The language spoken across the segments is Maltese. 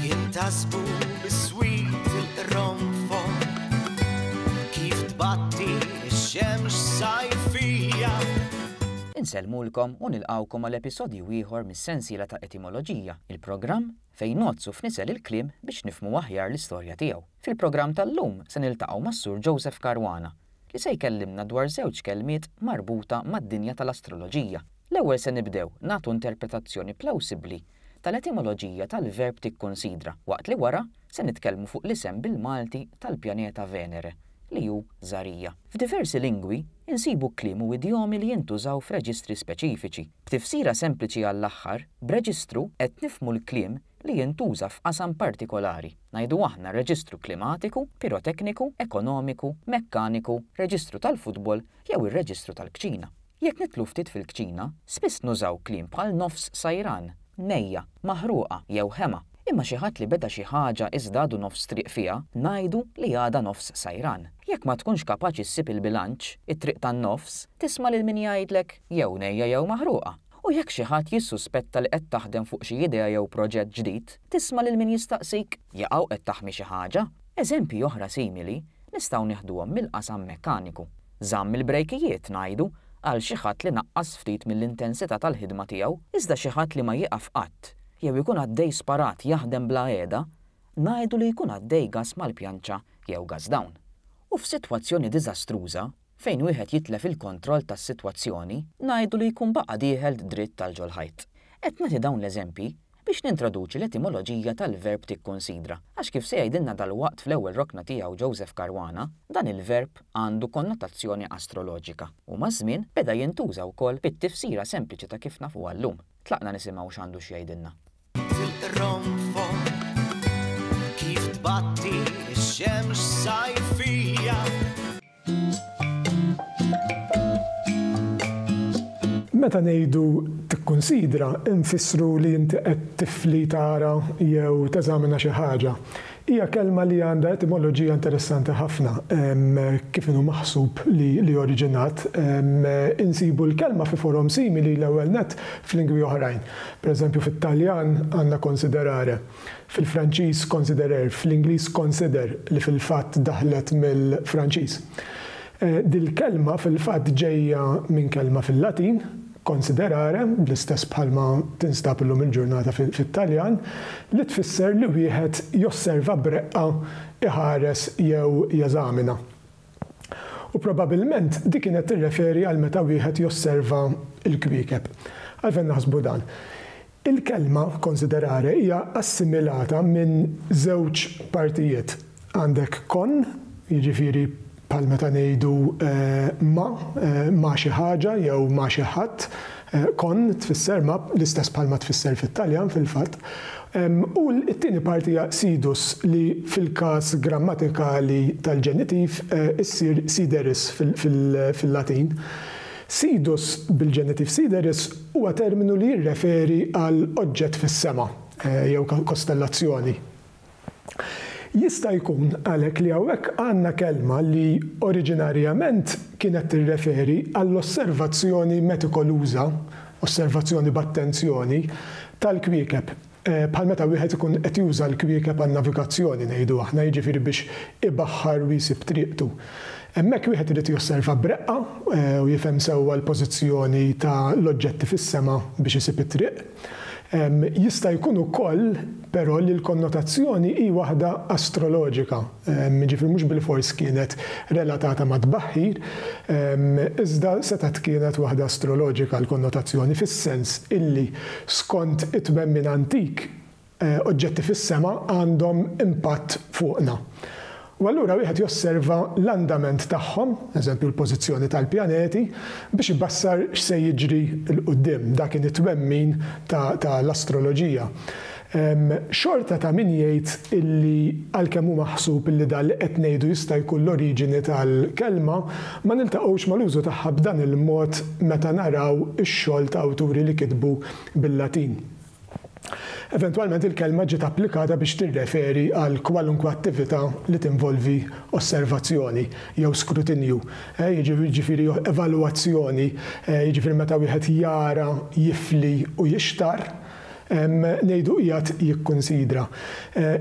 Jintasbu biswit il-qronfon kif tbatti x-xemx sajfija. Insellmulkom u nilqgħukom għal episodju ieħor mis-sensiela ta' Etimoloġija, il-programm fejn ngħoddsu f'nisel il-kliem biex nifhmu aħjar l-istorja tiegħu. Fil-programm tal-lum se niltaqgħu mas-Sur Joseph Caruana, li se jkellimna dwar żewġ kelmiet marbuta mad-dinja tal-astroloġija. L-ewwel se nibdew nagħtu interpretazzjoni plawsibbli tal-etimoloġija tal-verb tikkunsidra, waqt li wara se nitkellmu fuq l-isem bil-Malti tal-pjaneta Venere, li hu Żarija. F'diversi lingwi, insibu kliem u idjomi li jintużaw f'reġistri speċifiċi. B'tifsira sempliċi għall-aħħar, b'reġistru qed nifhmu l-kliem li jintuża f'qasam partikolari, ngħidu aħna reġistru klimatiku, pirotekniku, ekonomiku, mekkaniku, reġistru tal-futbol jew ir-reġistru tal-kċina. Jekk nidħlu ftit fil-kċina, spiss nużaw kliem bħal nofs sajran, nejja, maħruqa jew ħema, imma xi ħadd li beda xi ħaġa iżda għadu nofs triq fiha, ngħidu li għadha nofs sajran. Jekk ma tkunx kapaċi ssib il-bilanċ, it-triq tan-nofs, tisma' lil min jgħidlek, jew nejja jew maħruqa. U jekk xi ħadd jissuspetta li qed taħdem fuq xi idea jew proġett ġdid, tisma' lil min jistaqsik, Jaqaw qed taħmi xi ħaġa? Eżempji oħra simili nistgħu nieħduhom mill-qasam mekkaniku. Żamm il-brejkijiet, ngħidu, qal xi ħadd li naqqas ftit mill-intensità tal-ħidma tiegħu, iżda xi ħadd li ma jieqaf qatt, jew ikun għaddej sparat jaħdem bla qiegħda, ngħidu li jkun għaddej gass mal-pjanċa jew gass down. U f'sitwazzjoni diżastruża, fejn wieħed jitlef il-kontroll tas-sitwazzjoni, ngħidu li jkun baqa' dieħel dritt għal ġol-ħajt. Qed nagħti dawn l-eżempji biex nintroduċi l-etimoloġija tal-verb tikkunsidra, għax kif se jgħidilna dalwaqt fl-ewwel rokna tiegħu Joseph Caruana, dan il-verb għandu konnotazzjoni astroloġika u maż-żmien beda jintuża wkoll bit-tifsira sempliċi ta' kif nafuha llum. Tlaqna nisimgħu x'għandu x'jgħidilna. Meta ngħidu tikkunsidra nfissru li inti qed tifli tara jew teżamina xi ħaġa. Hija kelma li għandha etimoloġija interessanti ħafna, kif inhu maħsub li oriġinat. Insibu l-kelma fi forom simili l-ewwel nett f'lingwi oħrajn. Per eżempju fit-Taljan għandna considerare, fil-Franċiż considerer, fl-Ingliż consider li fil-fatt daħlet mill-Franċiż. Dil-kelma fil-fatt ġejja minn kelma fil-Latin, Considerare, bl-istess bħalma tinstab illum il-ġurnata fit-Taljan, li tfisser li wieħed josserva b'reqqa, iħares jew jeżamina. U probabilment di kienet tirreferi għal meta wieħed josserva l-kwiekeb. Għalfejn naħsbu dan? Il-kelma considerare hija assimilata minn żewġ partijiet. Għandek con, jiġifieri bħal meta ngħidu ma', ma' xi ħaġa jew ma' xi ħadd, con tfisser ma' l-istess bħalma tfisser fit-Taljan fil-fatt, u t-tieni parti hija sidus li fil-każ grammatikali tal-ġenitiv issir sideris fil-Latin. Sidus bil-ġenitiv sideris huwa terminu li jirreferi għal oġġett fis-sema jew kostellazzjoni. Jista' jkun għalhekk li hawnhekk għandna kelma li oriġinarjament kienet tirreferi għall-osservazzjoni metikoluża, osservazzjoni b'attenzjoni, tal-kwiekeb. Bħal meta wieħed ikun qed juża l-kwiekeb għan-navigazzjoni, ngħidu aħna, jiġifieri biex ibaħħar u jsib triqtu. Hemmhekk wieħed irid josserva b'reqqa u jifhem sewwa l-pożizzjoni ta' l-oġġetti fis-sema biex isib it-triq. Jista' jkun ukoll, però, li l-konnotazzjoni hi waħda astroloġika. jiġifieri mhux bilfors kienet relatata mat-tbaħħir, iżda setgħet kienet waħda astroloġika l-konnotazzjoni, fis-sens illi skont it-twemmin antik oġġetti fis-sema għandhom impatt fuqna. U allura wieħed josserva l-andament tagħhom, eżempju l-pożizzjoni tal-pjaneti, biex ibassar x'se jiġri 'l quddiem. Dak kien it-twemmin ta' l-astroloġija. Hemm xorta ta' min jgħid illi għalkemm hu maħsub illi dan li qed ngħidu jista' jkun l-oriġini tal-kelma, ma niltaqgħux mal-użu tagħha b'dan il-mod meta naraw ix-xogħol ta' awturi li kitbu bil-Latin. Eventwalment il-kelma ġiet applikata biex tirreferi għal kwalunkwe attività li tinvolvi osservazzjoni jew skrutinju, jiġifieri evalwazzjoni, jiġifieri meta wieħed jara, jifli u jixtarr. ngħidu qiegħed jikkunsidra.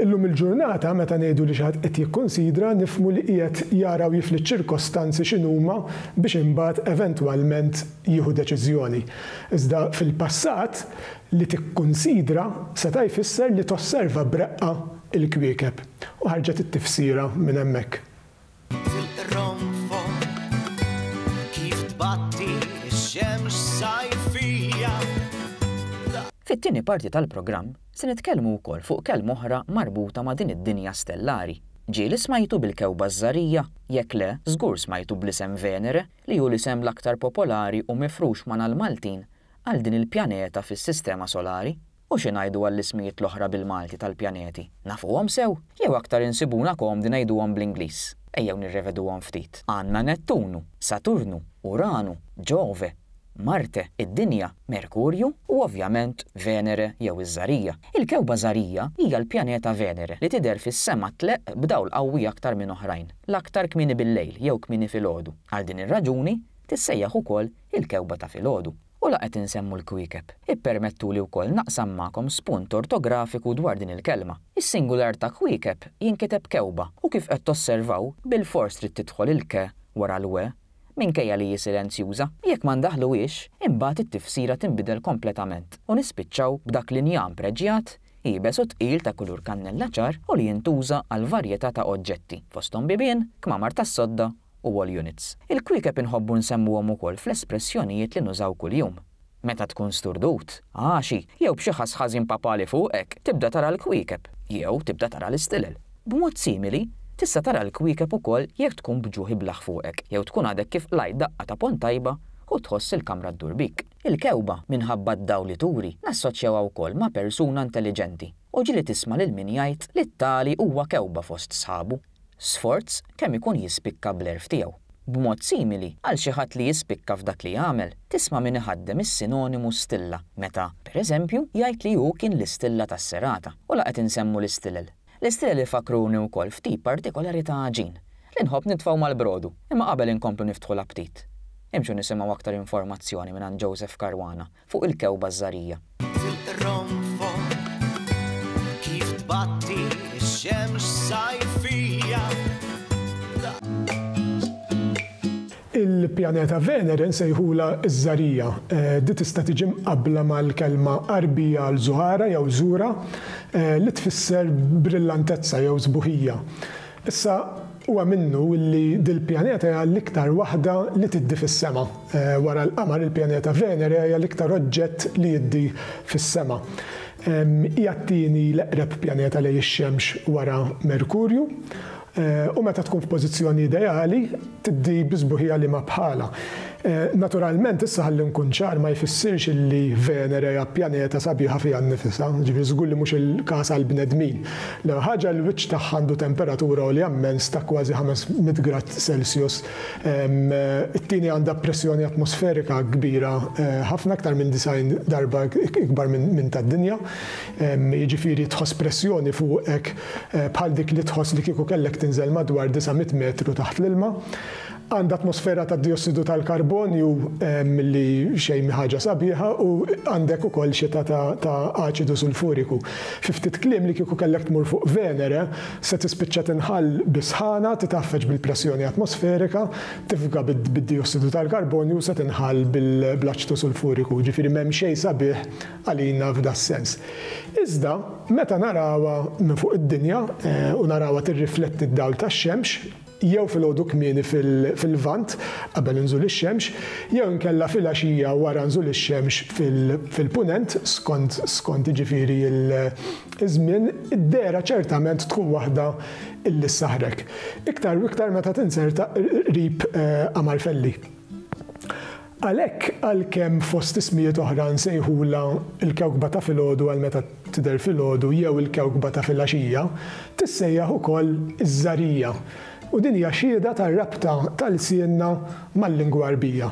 Illum il-ġurnata meta ngħidu li xi ħadd qed jikkunsidra nifhmu li qiegħed jara u jifli ċ-ċirkostanzi x'inhuma biex imbagħad eventwalment jieħu deċiżjoni. Iżda fil-passat, li tikkunsidra seta' jfisser li tosserva b'reqqa l-kwiekeb. U ħarġet it-tifsira minn hemmhekk. Fit-tieni parti tal-programm se nitkellmu wkoll fuq kelma oħra marbuta ma' din id-dinja stellari. Ġieli smajtu bil-kewba ż-żgħarija? Jekk le, żgur smajtu bl-isem Venere li hu l-isem l-aktar popolari u mifrux ma' nagħal Maltin għal din il-pjaneta fis-Sistema Solari. U xi ngħidu għall-ismijiet l-oħra bil-Malti tal-pjaneti? Nafuhom sew? Jew aktar insibuna komdi ngħiduhom bl-Ingliż? Ejjew nirreveduhom ftit. Għandna Nettunu, Saturnu, Uranu, Ġove, Marte, id-Dinja, Merkurju u ovvjament Venere jew iż-Żarija. Il-kewkba Żarija hija l-pjaneta Venere li tidher fis-sema tleqq b'dawl qawwi aktar minn oħrajn, l-aktar kmieni bil-lejl jew kmieni filgħodu. Għal din ir-raġuni tissejjaħ ukoll il-kewkba ta' filgħodu. U la qed insemmu l-kwiekeb, ippermettuli wkoll naqsam magħkom spunt ortografiku dwar din il-kelma. Is-singular ta' kwiekeb jinkiteb kewba u kif qed tosservaw bilfors trid tidħol il-ke wara l-we minkejja li hi silenzjuża. Jekk ma ndaħħluhiex, imbagħad it-tifsira tinbidel kompletament u nispiċċaw b'dak l-injam preġjat, iebes u tqil ta' kulur kannella ċar u li jintuża għal varjetà ta' oġġetti, fosthom bibien, kmamar tas-sodda u wall units. Il-kwiekeb inħobbu nsemmuhom ukoll fl-espressjonijiet li nużaw kuljum. Meta tkun sturdut, għaxi, jew b'xi ħass ħażin papali fuqek, tibda tara l-kwiekeb, jew tibda tara l-istilel. B'mod simili, tista' tara l-kwiekeb ukoll jekk tkun b'ġuħ iblaħ fuqek, jew tkun għadek kif qlajt daqqa ta' ponn tajba u tħoss il-kamra ddur bik. Il-kewba, minħabba d-dawl li turi, nassoċjawha wkoll ma' persuna intelliġenti u ġieli tisma' lil min jgħid li t-tali huwa kewba fost sħabu. Sforz kemm ikun jispikka bl-għerf tiegħu. B'mod simili, għal xi ħadd li jispikka f'dak li jagħmel, tisma' min iħaddem is-sinonimu stilla meta, per eżempju, jgħid li hu kien l-istilla tas-serata, u la qed insemmu l-istilel. L-istilel ifakkruni wkoll f'tip partikolari ta' għaġin, li nħobb nitfgħu mal-brodu, imma qabel inkomplu niftħu l-aptit, imxu nisimgħu aktar informazzjoni mingħand Joseph Caruana fuq il-kewba żgħarija. Il-pjaneta Venere nsejħulha ż-Żgħarija. Di tista' tiġi mqabbla mal-kelma Għarbija għal Zuhara jew Zura li tfisser brillantezza jew sbuħija. Issa, huwa minnu li dil-pjaneta hija l-iktar waħda li tiddi fis-sema. Wara l-Qamar, il-pjaneta Venere hija l-iktar oġġett li jiddi fis-sema. Hija t-tieni l-eqreb pjaneta lejn ix-Xemx wara Merkurju, u meta tkun f'pożizzjoni ideali, tiddi bi sbuħija liema bħalha. Naturalment, issa ħalli nkun ċar, ma jfissirx illi Venere hija pjaneta sabiħa fiha nnifisha, jiġifieri żgur li mhux il-każ għall-bnedmin. L-ewwel ħaġa, l-wiċċ tagħha għandu temperatura għolja mmens ta' kważi ħames mitt grad Celsius. It-tieni għandha pressjoni atmosferika kbira ħafna, iktar minn disgħin darba ikbar minn tad-Dinja, jiġifieri tħoss pressjoni fuqek bħal dik li tħoss li kieku kellek tinżel madwar 900 metru taħt l-ilma. Għandha atmosfera ta' dijossidu tal-karbonju li xejn mhi ħaġa sabiħa u għandek ukoll xita ta' aċidu sulfuriku. Fi ftit kliem li kieku kellek tmur fuq Venere, se tispiċċa tinħall bis-sħana, titgħaffeġ bil-pressjoni atmosferika, tifga bid-dijossidu tal-karbonju u se tinħall bl-aċidu sulfuriku. Ġifieri m'hemm xejn sabiħ għalina f'das-sens. Iżda, meta narawha minn fuq id-dinja, u narawha tirrifletti d-dawl tax-xemx, jew filgħodu kmieni fil-Lvant, qabel inżul ix-xemx, jew inkella filgħaxija wara nżul ix-xemx fil-Punent, skont, skont jiġifieri l-żmien, id-dehra ċertament tkun waħda li ssaħrek. Iktar u iktar meta tinzerta qrib Amalfelli. Għalhekk, għalkemm fost ismijiet oħra nsejħulha l-kewkba ta' filgħodu għal meta tidher filgħodu jew il-kewkba ta' filgħaxija, tissejjaħ ukoll iż-żagħrija, u din hija xhieda tar-rabta ta' lsienna mal-lingwa Għarbija.